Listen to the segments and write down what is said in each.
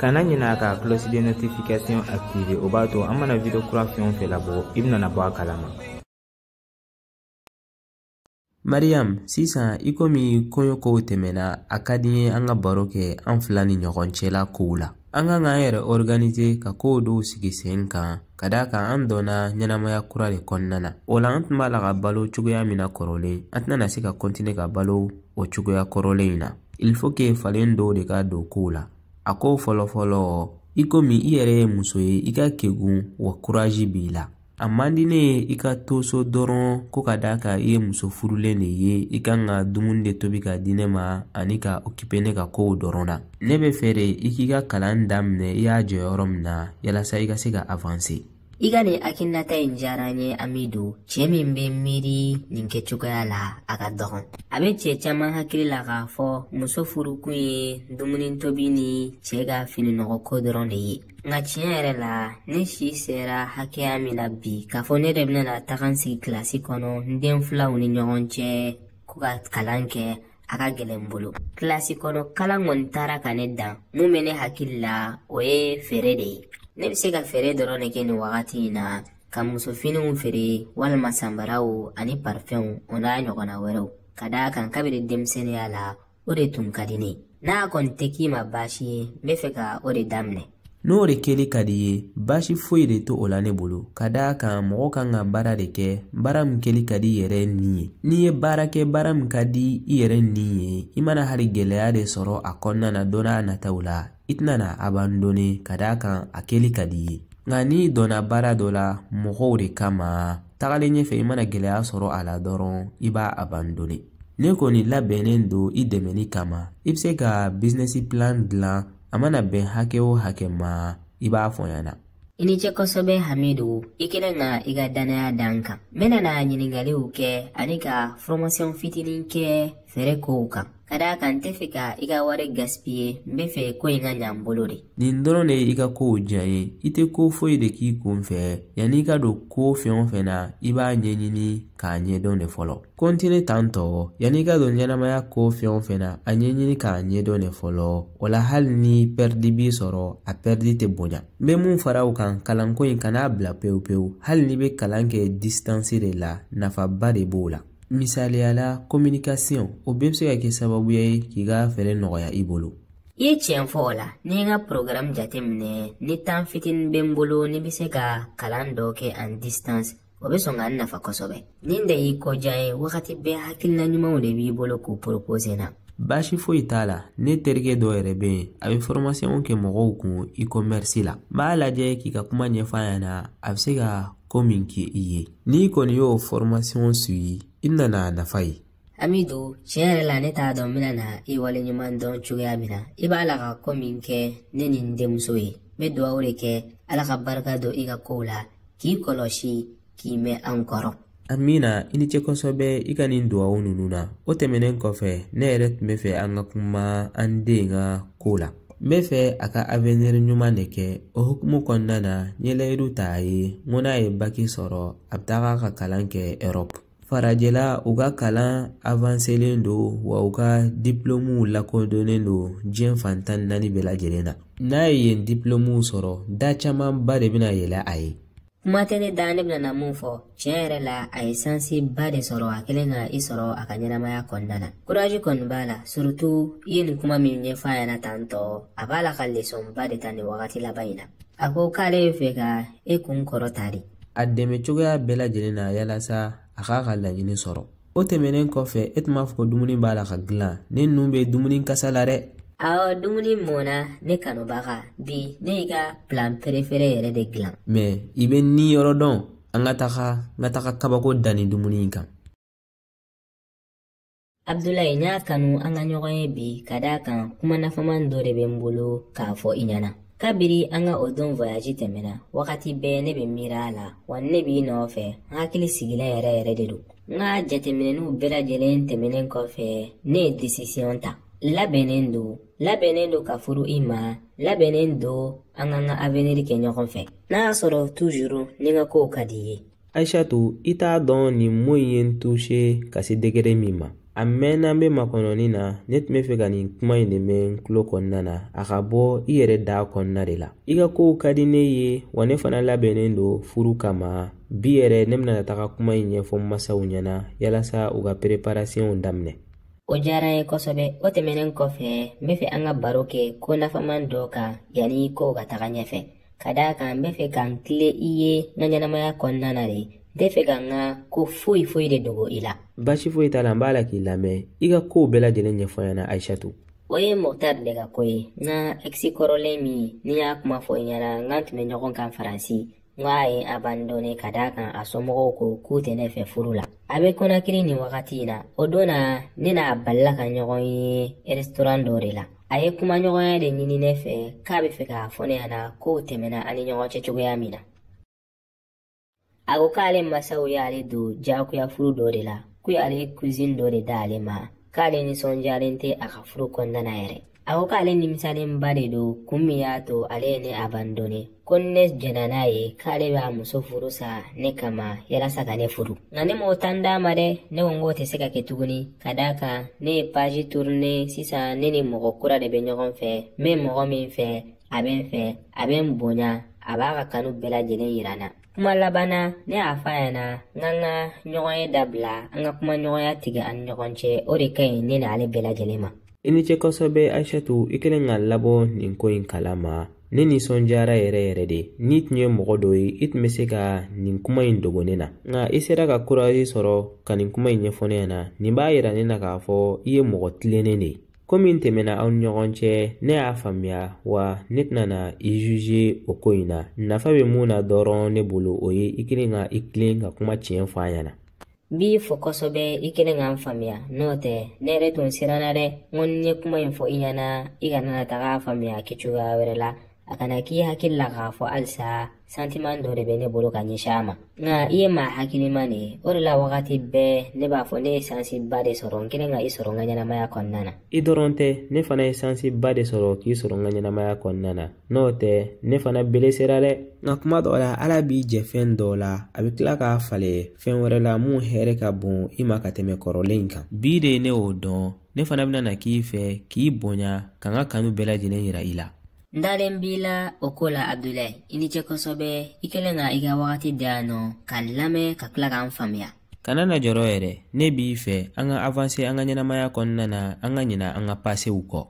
kana ɲina ka cloche de notification activer o b'a to an mana video kura fɛn o fɛn labɔ i bɛna bɔ a kalama mariam sisan i komi kɔɲɔ kow tɛmɛna a ka di n ye an ka baro kɛ an fila ni ɲɔgɔn cɛla kow la an kan k'an yɛrɛ organise ka kow dɔw sigi sen kan ka d'a kan an donna ɲɛnamaya kura de kɔnɔna na o la an tun b'a la ka balo cogoya min na kɔrɔlen an tɛna se ka kɔntine ka balo o cogoya kɔrɔlen in na il faut que falen dɔw de ka don kow la a ko fɔlɔfɔlɔ i komi i yɛrɛ ye muso ye i ka kegun wa kurazi b'i la a man di ne ye i ka to so dɔrɔn ko ka d'a kan i ye muso furulen de ye i kan ka dumuni de tobi ka di ne ma ani ka okipe ne ka kow dɔrɔn na ne bɛ fɛ de i k'i ka kalan daminɛ i y'a jɔ yɔrɔ min na yalasa i ka se ka avanse I ka nin hakilinata in diyara n ye Amidu, cɛ min bɛ miiri nin kɛcogoya la, a ka dɔgɔn. A bɛ cɛ caman hakili la k'a fɔ muso furukun ye dumuni tobi ni cɛ ka fininɔgɔko dɔrɔn de ye. Nka tiɲɛ yɛrɛ la, ne si sera hakɛya min na bi, k'a fɔ ne de bɛna taga n sigi kilasi kɔnɔ n den filanw ni ɲɔgɔn cɛ ko ka kalan kɛ, a ka gɛlɛn n bolo kilasi kɔnɔ kalan kɔni taara ka ne dan mun bɛ ne hakili la o ye feere de ye ne bɛ se ka feere dɔrɔn de kɛ nin wagati in na ka musofiniw feere walima sanbaraw ani parifɛnw o n'a ɲɔgɔnna wɛrɛw ka d'a kan kabini denmisɛnninya la o de tun ka di ne ye n'a kɔni tɛ k'i ma baasi ye n bɛ fɛ ka o de daminɛ n'o de kɛli ka d'i ye baasi foyi de t'o la ne bolo ka d'a kan mɔgɔ kan ka baara de kɛ baara min kɛli ka di i yɛrɛ ni ye n'i ye baara kɛ baara min ka di i yɛrɛ ni ye i mana hali gɛlɛya de sɔrɔ a kɔnɔna na don n'a nataw la i tɛna n'a abandone ka d'a kan a kɛli ka di i ye nka n'i donna baara dɔ la mɔgɔw de kama tagalen ɲɛfɛ i mana gɛlɛya sɔrɔ a la dɔrɔn i b'a abandone ne kɔni labɛnnen don i dɛmɛni kama i bɛ se ka business plan dilan a mana bɛn hakɛ o hakɛ ma i b'a fɔ n ɲɛna i ni ce kosɛbɛ hamidu i kɛlen ka i ka dannaya da n kan n bɛna na ɲininkaliw kɛ ani ka fɔrɔmasiyɔn fitinin kɛ feere kow kan ka d'a kan n tɛ fɛ ka i ka wari gasipiye n bɛ fɛ ko in ka ɲa n bolo de nin dɔrɔn de y'i ka kow diya n ye i tɛ ko foyi de k'i kunfɛ yanni i ka don ko fɛn o fɛn na i b'a ɲɛɲini k'a ɲɛdɔn de fɔlɔ kɔntini tan tɔ yanni i ka don ɲɛnamaya ko fɛn o fɛn na a ɲɛɲini k'a ɲɛdɔn de fɔlɔ o la hali ni pɛridi b'i sɔrɔ a pɛridi tɛ bonya n bɛ mun fara o kan kalanko in kan'a bila pewu pewu hali n'i bɛ kalan kɛ disitansi de la nafaba de b'o la misaliya la kominikasiyɔn o bɛɛ bɛ se ka kɛ sababuya ye k'i ka feere nɔgɔya i bolo i ye tiɲɛ fɔ o la ni n ka programme jateminɛ ni temps fitinin bɛ n bolo ne bɛ se ka kalan dɔ kɛ en distance o bɛ sɔn ka n nafa kosɛbɛ nin de y'i ko diya n ye wagati bɛɛ hakilina ɲumanw de b'i bolo k'u poropose na baasi foyi t'a la ne terikɛ dɔ yɛrɛ bɛ yen a bɛ fɔrɔmasiyɔn kɛ mɔgɔw kun i kɔmɛrisi la n b'a lajɛ k'i ka kuma ɲɛfɔ a ɲɛna a bɛ se ka ko min kɛ i ye n'i kɔni y'o fɔrɔmasiyɔn suivi i bɛna n'a nafa ye Amidu tiɲɛ yɛrɛ la ne t'a dɔn n bɛna na i waleɲuman dɔn cogoya min na i b'a la ka ko min kɛ ne ni n denmuso ye n bɛ dugawu de kɛ ala ka barika don i ka kow la k'i kɔlɔsi k'i mɛn an kɔrɔ amina i ni ce kosɛbɛ i ka nin dugawu ninnu na o tɛmɛnen kɔfɛ ne yɛrɛ tun bɛ fɛ an ka kuma an den ka ko la n bɛ fɛ a ka avenir ɲuman de kɛ o hukumu kɔnɔna na n ye layidu ta a ye n ko n'a ye baki sɔrɔ a bɛ taga ka kalan kɛ europe farajɛla u ka kalan awanselen don wa u ka dipilomuw lakodɔnnen don diɲɛ fan tan ni naani bɛɛ lajɛlen na n'a ye yen dipilomuw sɔrɔ da camanba de bɛna yɛlɛ a ye kuma tɛ ne da ne bɛna na mun fɔ tiɲɛ yɛrɛ la a ye sansiba de sɔrɔ a kelen ka i sɔrɔ a ka ɲɛnamaya kɔnɔna na kurazi kɔni b'a la surutu i ye nin kuma min ɲɛfɔ a ɲɛna tan tɔ a b'a la ka lesɔnba de ta nin wagati laban in na a ko k'ale bɛ fɛ ka e kun kɔrɔta de a dɛmɛ cogoya bɛɛ lajɛlen na yalasa a k'a ka laɲini sɔrɔ o tɛmɛnen kɔfɛ e tun b'a fɔ ko dumuni b'a la ka dilan ne nun bɛ dumuni kasa la dɛ awɔ dumuni mɔna ne kanubaga bi ne y'i ka plat perefere yɛrɛ de dilan mɛ i bɛ ni yɔrɔ dɔn an ka taga n ka taga kabako dan nin dumuni in kan abdulayi n y'a kanu an ka ɲɔgɔn ye bi ka d'a kan kuma nafaman dɔ de bɛ n bolo k'a fɔ i ɲɛna kabiri an ka o don voyaji tɛmɛna wagati bɛɛ ne bɛ miiri a la wa ne b'i nɔfɛ n hakili sigilen yɛrɛ yɛrɛ de don n ka jateminɛniw bɛɛ lajɛlen tɛmɛnen kɔfɛ ne ye desisiyɔn ta labɛnnen don labɛnnen don ka furu i ma labɛnnen don an k'an ka aveniri kɛ ɲɔgɔn fɛ n'a y'a sɔrɔ tuzuru ni n ka kow ka di i ye ayisatu i t'a dɔn nin mo in ye n tuse ka se degere min ma a mɛnna n bɛ makɔnɔni na ne tun bɛ fɛ ka nin kuma in de mɛn n tulo kɔnɔna na a ka bɔ i yɛrɛ da kɔnɔna de la i ka kow ka di ne ye wa ne fana labɛnnen don furu kama bi yɛrɛ ne bɛna taga kuma in ɲɛfɔ n masaw ɲɛna yalasa u ka pereparasiyɔnw daminɛ o diyara n ye kosɛbɛ o tɛmɛnen kɔfɛ n bɛ fɛ an ka baro kɛ ko nafaman dɔ kan yanni kow ka taga ɲɛfɛ ka d'a kan n bɛ fɛ ka n tilen i ye n ka ɲɛnamaya kɔnɔna na de n tɛ fɛ ka n ka ko foyi foyi de dogo i la baasi foyi t'a la n b'a la k'i lamɛn i ka kow bɛɛ lajɛlen ɲɛfɔ n ɲɛna ayisatu o ye mɔktar de ka ko ye n ka ɛkisi kɔrɔlen min ne y'a kuma fɔ i ɲɛna n k'an tun bɛ ɲɔgɔn kan faransi n k'a ye n abandone ka d'a kan a somɔgɔw ko k'u tɛ ne fɛ furu la a bɛ kɔnakiri nin wagati in na o don na ne n'a balila ka ɲɔgɔn ye rɛsitoran dɔ de la a ye kumaɲɔgɔnya de ɲini ne fɛ k'a bɛ fɛ k'a fɔ ne ɲɛna kow tɛmɛna an ni ɲɔgɔn cɛ cogoya min na a ko k'ale masaw y'ale don jagoya furu dɔ de la ko y'ale kuzini dɔ de d'ale ma k'ale nisɔndiyalen tɛ a ka furu kɔnɔna na yɛrɛ a ko k'ale nimisalenba de don kun min y'a to ale ye ne abandone ko ni ne jɛnna n'a ye k'ale b'a muso furu sa ne kama yalasa ka ne furu nka ne m'o tan d'a ma dɛ ne ko n k'o tɛ se ka kɛ tuguni ka d'a kan ne ye paji turune sisan ne ni mɔgɔ kura de bɛ ɲɔgɔn fɛ n bɛ mɔgɔ min fɛ a bɛ n fɛ a bɛ n bonya a b'a ka kanu bɛɛ lajɛlen yira n na kuma laban na ne y'a fɔ a ɲɛna an kan ka ɲɔgɔnye dabila an ka kumaɲɔgɔnya tigɛ an ni ɲɔgɔn cɛ o de ka ɲi ne n'ale bɛɛ lajɛlen ma i ni ce kosɛbɛ aishatu i kɛlen ka n labɔ nin ko in kala ma ne nisɔndiyara yɛrɛ yɛrɛ dɛ n'i tun ye mɔgɔ dɔ ye i tun bɛ se ka nin kuma in dogo ne na nka i sera ka kurazi sɔrɔ ka nin kuma in ɲɛfɔ ne ɲɛna nin b'a yira ne na k'a fɔ i ye mɔgɔ tilennen de ye ko min tɛmɛna aw ni ɲɔgɔn cɛ ne y'a faamuya wa ne tɛna na i juge o ko in na nafa bɛ mun na dɔrɔn ne bolo o ye i kɛlen ka i tilen ka kuma tiɲɛ fɔ n ɲɛna n b'i fo kosɛbɛ i kɛlen ka n faamuya n'o tɛ ne yɛrɛ tun siranna dɛ n ko ni n ye kuma in fɔ i ɲɛna i kana na taga faamuya kɛ cogoya wɛrɛ la a kana k'i hakili la k'a fɔ halisa santiman dɔ de bɛ ne bolo ka ɲɛsin a ma nka i ye maa hakiliman de ye o de la wagati bɛɛ ne b'a fɔ ne ye sansiba de sɔrɔ n kɛlen ka i sɔrɔ n ka ɲɛnamaya kɔnɔna na i dɔrɔn tɛ ne fana ye sansiba de sɔrɔ k'i sɔrɔ n ka ɲɛnamaya kɔnɔna na n'o tɛ ne fana belesera dɛ nka kuma dɔw la ala b'i jɛ fɛn dɔw la a bɛ tila k'a falen fɛn wɛrɛ la mun hɛrɛ ka bon i ma ka tɛmɛ kɔrɔlen in kan bi de ne y'o dɔn ne fana bɛna na k'i fɛ k'i bonya ka n ka kanu bɛɛ lajɛlen yira i la n dalen b'i la o ko la abudulayi i ni ce kosɛbɛ i kɛlen ka i ka wagati da yan nɔ ka n lamɛn ka tila ka n faamuya kana na jɔrɔ yɛrɛ ne b'i fɛ an ka avanse an ka ɲɛnamaya kɔnɔna na an ka ɲina an ka pasew kɔ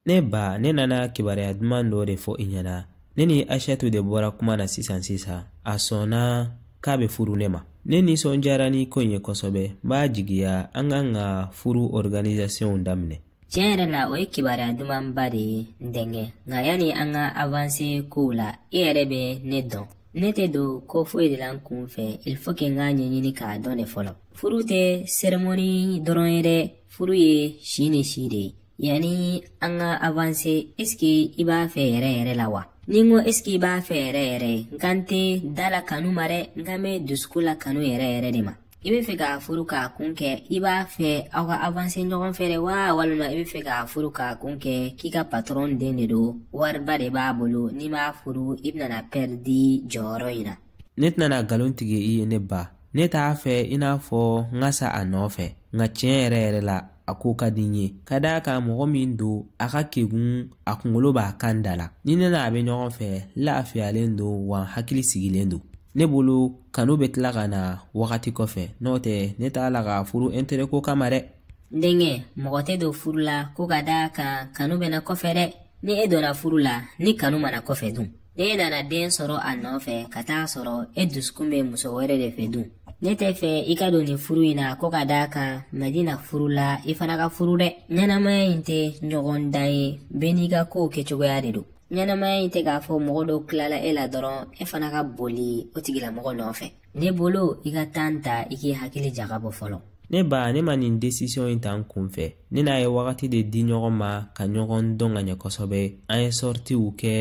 ne ba ne nana kibaruya duman dɔ de fɔ i ɲɛna ne ni aishatu de bɔra kuma na sisan sisan a sɔnna k'a bɛ furu ne ma ne nisɔndiyara ni ko in ye kosɛbɛ n b'a jigiya an kan ka furu organisasiɔnw daminɛ tiɲɛ yɛrɛ la o ye kibaruya dumanba de ye n denkɛ nka yanni an ka avanse kow la i yɛrɛ bɛ ne dɔn ne tɛ don ko foyi de la n kun fɛ il faut que n k'a ɲɛɲini k'a dɔn de fɔlɔ furu tɛ seremoni dɔrɔn ye dɛ furu ye si ni si de ye yanni an ka avanse esike i b'a fɛ yɛrɛ yɛrɛ la wa ni n ko esike i b'a fɛ yɛrɛ yɛrɛ n kan tɛ da la kanu ma dɛ n kan bɛ dusukun la kanu yɛrɛ yɛrɛ de ma i bɛ fɛ k'a furu k'a kun kɛ i b'a fɛ aw ka avanse ɲɔgɔn fɛ de wa walima i bɛ fɛ k'a furu k'a kun kɛ k'i ka patɔrɔn den de don wariba de b'a bolo n'i m'a furu i bɛna pɛridi jɔyɔrɔ in na ne tɛna nkalon tigɛ i ye ne ba ne t'a fɛ i n'a fɔ n ka sa a nɔfɛ nka tiɲɛ yɛrɛ yɛrɛ la a ko ka di n ye ka d'a kan mɔgɔ min don a ka kegun a kunkolo b'a kan da la ni ne n'a bɛ ɲɔgɔn fɛ lafiyalen don wa hakili sigilen don ne bolo kanu bɛ tila ka na wagati kɔfɛ n'o tɛ ne t'a la ka furu intérêt ko kama dɛ n denkɛ mɔgɔ tɛ don furu la ko ka d'a kan kanu bɛ na kɔfɛ dɛ ni e donna furu la ni kanu ma na kɔfɛ dun ni e nana den sɔrɔ a nɔfɛ ka t'a sɔrɔ e dusukun bɛ muso wɛrɛ de fɛ dun ne tɛ fɛ i ka don nin furu in na ko ka d'a kan madina furula i fana ka furu dɛ ɲɛnamaya in tɛ ɲɔgɔndan ye bɛɛ n'i ka kow kɛcogoya de don ɲɛnamaya in tɛ k'a fɔ mɔgɔ dɔ tilala e la dɔrɔn e fana ka boli o tigilamɔgɔ nɔfɛ ne bolo i ka tan ta i k'i hakili jagabɔ fɔlɔ ne ba ne ma nin desisiyɔn in ta n kun fɛ ne n'a ye wagati de di ɲɔgɔn ma ka ɲɔgɔn dɔn ka ɲɛ kosɛbɛ an ye sɔritiw kɛ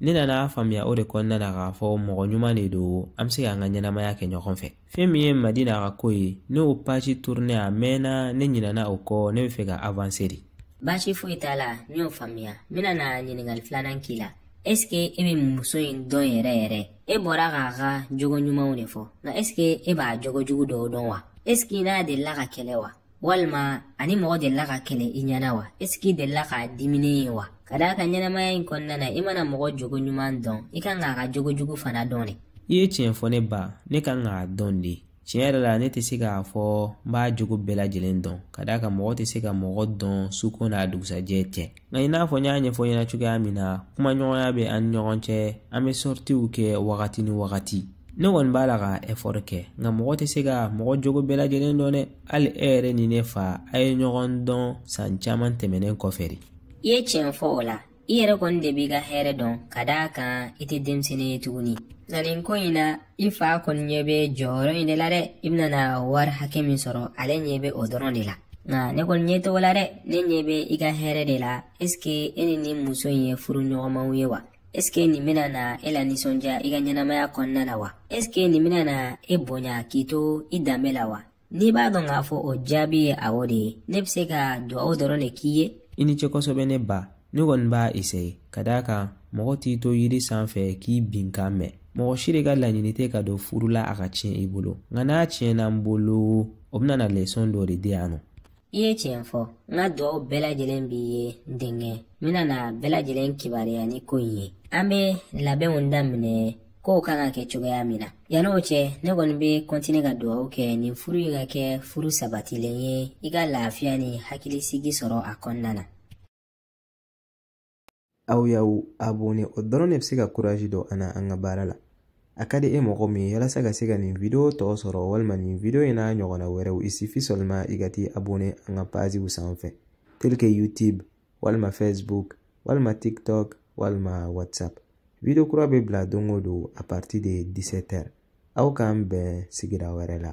ne nana a faamuya o de kɔnɔna na k'a fɔ mɔgɔ ɲuman de don an bɛ se k'an ka ɲɛnamaya kɛ ɲɔgɔn fɛ fɛn min ye madina ka ko ye ne o pazi turune a mɛnna ne ɲinɛna o kɔ ne bɛ fɛ ka avanse de baasi foyi t'a la n y'o faamuya n bɛna na ɲininkali filanan k'i la ɛsike e bɛ muso in dɔn yɛrɛ yɛrɛ e bɔra k'a ka jogo ɲumanw de fɔ nka ɛsike e b'a jogo jugu dɔw dɔn wa ɛsike i n'a delila ka kɛlɛ wa walima a ni mɔgɔ delila ka kɛlɛ i ɲɛna wa ɛsike i delila k'a diminen ye wa ka d'a kan ɲɛnamaya in kɔnɔna na i mana mɔgɔ jogo ɲuman dɔn i kan k'a ka jogo jugu fana dɔn de i ye tiɲɛ fɔ ne ba ne kan k'a dɔn de tiɲɛ yɛrɛ la ne tɛ se k'a fɔ n b'a jogo bɛɛ lajɛlen dɔn ka d'a kan mɔgɔ tɛ se ka mɔgɔ dɔn suko n'a dugusajɛ cɛ nka i n'a fɔ n y'a ɲɛfɔ ɲɛna cogoya min na kumaɲɔgɔnya bɛ an ni ɲɔgɔn cɛ an bɛ sɔritiw kɛ wagati ni wagati ne kɔni b'a la ka ɛfɔri kɛ nka mɔgɔ tɛ se ka mɔgɔ jogo bɛɛ lajɛlen dɔn dɛ hali e yɛrɛ ni ne fa a ye ɲɔgɔn dɔn san caman tɛmɛnen kɔfɛ de i ye tiɲɛ fɔ o la i yɛrɛ kɔni de b'i ka hɛrɛ dɔn ka d'a kan i tɛ denmisɛnnin ye tuguni nka nin ko in na i fa kɔni ɲɛ bɛ jɔyɔrɔ in de la dɛ i bɛna na wari hakɛ min sɔrɔ ale ɲɛ bɛ o dɔrɔn de la nka ne kɔni ɲɛ t'o la dɛ ne ɲɛ bɛ i ka hɛrɛ de la esike e ni nin muso in ye furuɲɔgɔnmaw ye wa esike nin bɛna na e lanisɔndiya i ka ɲɛnamaya kɔnɔna la wa esike nin bɛna na e bonya k'i to i danbe la wa n'i b'a dɔn k'a fɔ o jaabi ye awɔ de ye ne bɛ se ka dugawu dɔrɔn de k'i ye i ni ce kosɛbɛ ne ba ne kɔni b'a esaye ka d'a kan mɔgɔ t'i to yiri sanfɛ k'i binkan mɛn mɔgɔ si de ka laɲini tɛ ka don furu la a ka tiɲɛ i bolo nka n'a tiɲɛna n bolo o bɛna na lesɔn dɔ de di yan nɔ i ye tiɲɛ fɔ n ka dugaw bɛɛ lajɛlen b'i ye n denkɛ n bɛna na bɛɛ lajɛlen kibaruya ni ko in ye an bɛ labɛnw daminɛ kow kan ka kɛ cogoya min na yanni o cɛ ne kɔni bɛ kɔntine ka dugawu kɛ nin furu in ka kɛ furu sabatilen ye i ka lafiya ni hakilisigi sɔrɔ a kɔnɔna na aw y'aw abone o dɔrɔn de bɛ se ka kurazi don an na an ka baara la a ka di e mɔgɔ min ye yalasa ka se ka nin video tɔ sɔrɔ walima nin video in n'a ɲɔgɔnna wɛrɛw il suffit seulement i ka t'i abone an ka paziw sanfɛ tel que youtube walima facebook walima tiktok walima whatsapp video kura bɛ bila don o don à partir de 17 heures aw k'an bɛn sigira wɛrɛ la